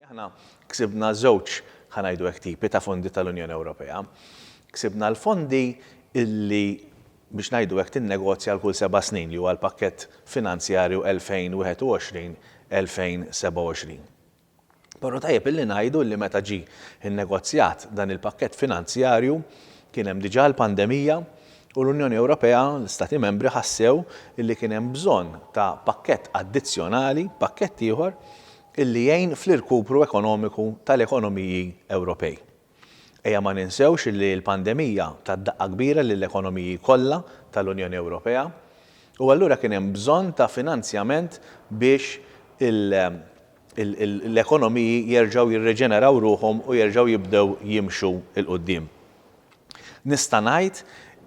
Aħna ksibna żewġ, ħa ngħidu hekk, tipi ta' fondi tal-Unjoni Ewropea. Ksibna l-fondi li, biex ngħidu hekk, tinnegozja għal kull seba' snin, li huwa l-pakkett finanzjarju 2021, 2027. Però tajjeb li ngħidu li meta ġie nnegozjat dan il-pakkett finanzjarju kien hemm diġà l-pandemija u l-Unjoni Ewropea, l-Istati Membri ħassew li kien hemm bżonn ta' pakkett addizzjonali, pakkett ieħor, li jgħin fl-irkupru ekonomiku tal-ekonomiji Ewropej. Ejja ma ninsewx li l-pandemija tat daqqa kbira lill-ekonomiji kollha tal-Unjoni Ewropea u allura kien hemm bżonn ta' finanzjament biex l-ekonomiji jerġgħu jirriġeneraw ruħhom u jerġgħu jibdew jimxu 'l quddiem. Nista' ngħid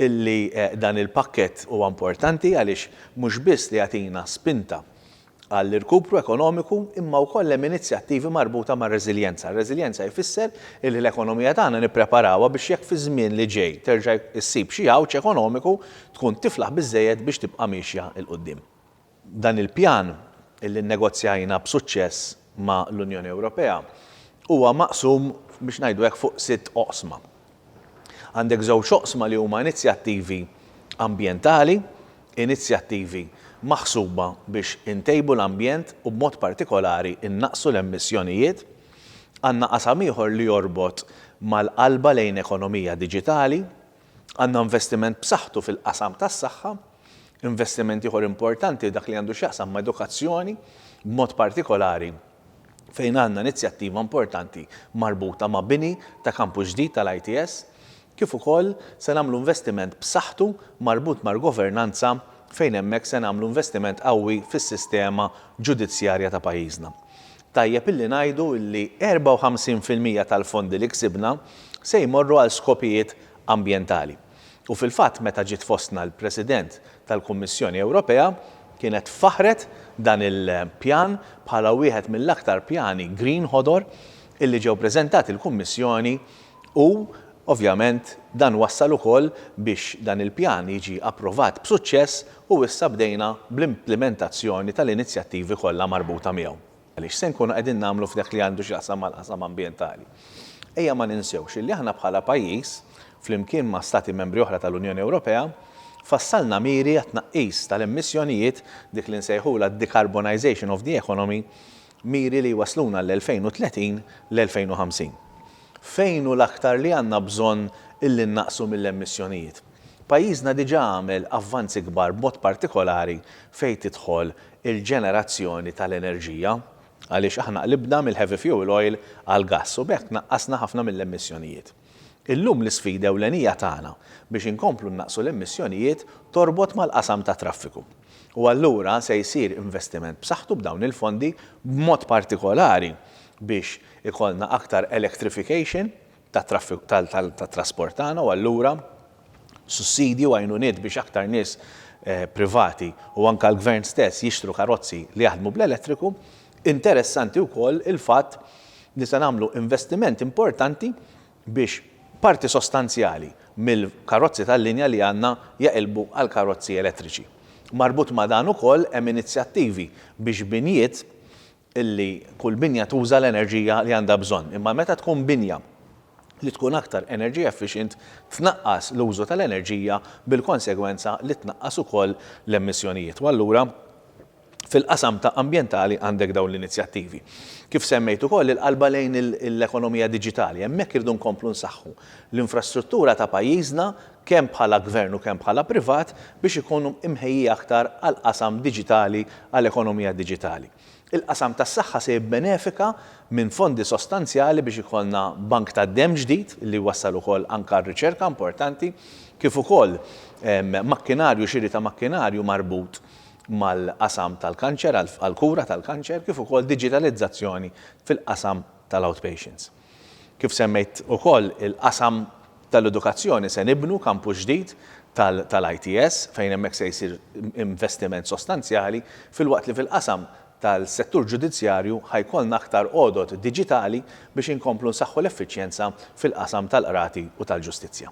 li dan il-pakkett huwa importanti għaliex mhux biss li jagħtina spinta għall-irkupru ekonomiku imma wkoll hemm inizjattivi marbuta mar-reżiljenza. Reżiljenza jfisser illi l-ekonomija tagħna nippreparawha biex jekk fiż-żmien li ġej terġa' ssib xi għawġ ekonomiku tkun tiflaħ biżżejjed biex tibqa' miexja 'l quddiem. Dan il-pjan, illi nnegozjajna b'suċċess ma' l-Unjoni Ewropea huwa maqsum, biex ngħidu hekk, fuq sitt oqsma. Għandek żewġ oqsma li huma inizjattivi ambjentali, inizjattivi maħsuba biex intejbu l-ambjent u b'mod partikolari nnaqqsu l-emissjonijiet. Għandna qasam ieħor li jorbot mal-qalba lejn ekonomija diġitali, Għandna investiment b'saħħtu fil-qasam tas-saħħa. Investiment ieħor importanti dak li għandu x'jaqsam ma' edukazzjoni, b'mod partikolari fejn għandna inizjattiva importanti marbuta ma' bini ta' kampus ġdid tal-ITS, kif ukoll se nagħmlu investiment b'saħħtu marbut mal-governanza fejn hemmhekk se nagħmlu investiment qawwi fis-sistema ġudizzjarja ta' pajjiżna. Tajjeb illi ngħidu illi 54 fil-mija tal-fondi li ksibna se jmorru għal skopijiet ambjentali. U fil-fatt meta ġiet fostna l-President tal-Kummissjoni Ewropea kienet faħħret dan il-pjan bħala wieħed mill-aktar pjani green ħodor illi ġew preżentati l-Kummissjoni U, ovvjament, dan wassal ukoll biex dan il-pjan jiġi approvat b'suċċess u issa bdejna bl-implimentazzjoni tal-inizjattivi kollha marbuta miegħu. Għaliex se nkunu qegħdin nagħmlu f'dak li għandu x'jaqsam mal-qasam ambjentali? Ejja ma ninsewx illi aħna bħala pajjiż, flimkien ma' Stati Membri oħra tal-Unjoni Ewropea, fassalna miri għat-tnaqqis tal-emissjonijiet, dik li nsejħulha d-decarbonization of the economy, miri li jwassluna għall-2030, l-2050. Fejn hu l-aktar li għandna bżonn illi nnaqqsu mill-emissjonijiet? Pajjiżna diġà għamel avvanzi kbar b'mod partikolari fejn tidħol il-ġenerazzjoni tal-enerġija għaliex aħna qlibna mill-heavy fuel oil għall-gass u b'hekk naqqasna ħafna mill-emissjonijiet. Illum l-isfida ewlenija tagħna biex inkomplu nnaqqsu l-emissjonijiet torbot mal-qasam tat-traffiku. u allura se jsir investiment b'saħħtu b'dawn il-fondi b'mod partikolari biex ikollna aktar electrification tat-trasport tagħna u allura sussidji u għajnuniet biex aktar nies privati u anke l-Gvern stess jixtru karozzi li jaħdmu bl-elettriku. Interessanti wkoll il-fatt li se nagħmlu investiment importanti biex parti sostanzjali mill-karozzi tal-linja li għandna jaqilbu għal karozzi elettriċi. Marbut ma' dan ukoll hemm inizjattivi biex binjiet li kull binja tuża l-enerġija li għandha bżonn, imma meta tkun binja li tkun aktar energy efficient tnaqqas l-użu tal-enerġija bil-konsegwenza li tnaqqas ukoll l-emissjonijiet u allura Fil-qasam ta' ambjentali għandek dawn l-inizjattivi. Kif semmejt ukoll il-qalba lejn l-ekonomija diġitali. Hemmhekk irridu nkomplu nsaħħu l-infrastruttura ta' pajjiżna kemm bħala gvern u kemm bħala privat biex ikunu mħejjija aktar għall-qasam diġitali għal ekonomija diġitali. Il-qasam tas-saħħa se jibbenefika minn fondi sostanzjali biex ikollna bank tad-demm ġdid li jwassal ukoll anke għal riċerka importanti kif ukoll makkinarju xiri ta' makkinarju marbut mal-qasam tal-kanċer, għall-kura tal-kanċer, kif ukoll diġitalizzazzjoni fil-qasam tal-outpatients. Kif semmejt ukoll il-qasam tal-edukazzjoni, se nibnu kampus ġdid tal-ITS fejn hemmhekk se jsir investiment sostanzjali, filwaqt li fil-qasam tal-settur ġudizzjarju ħa jkollna aktar għodod diġitali biex inkomplu nsaħħu l-effiċjenza fil-qasam tal-qrati u tal-ġustizzja.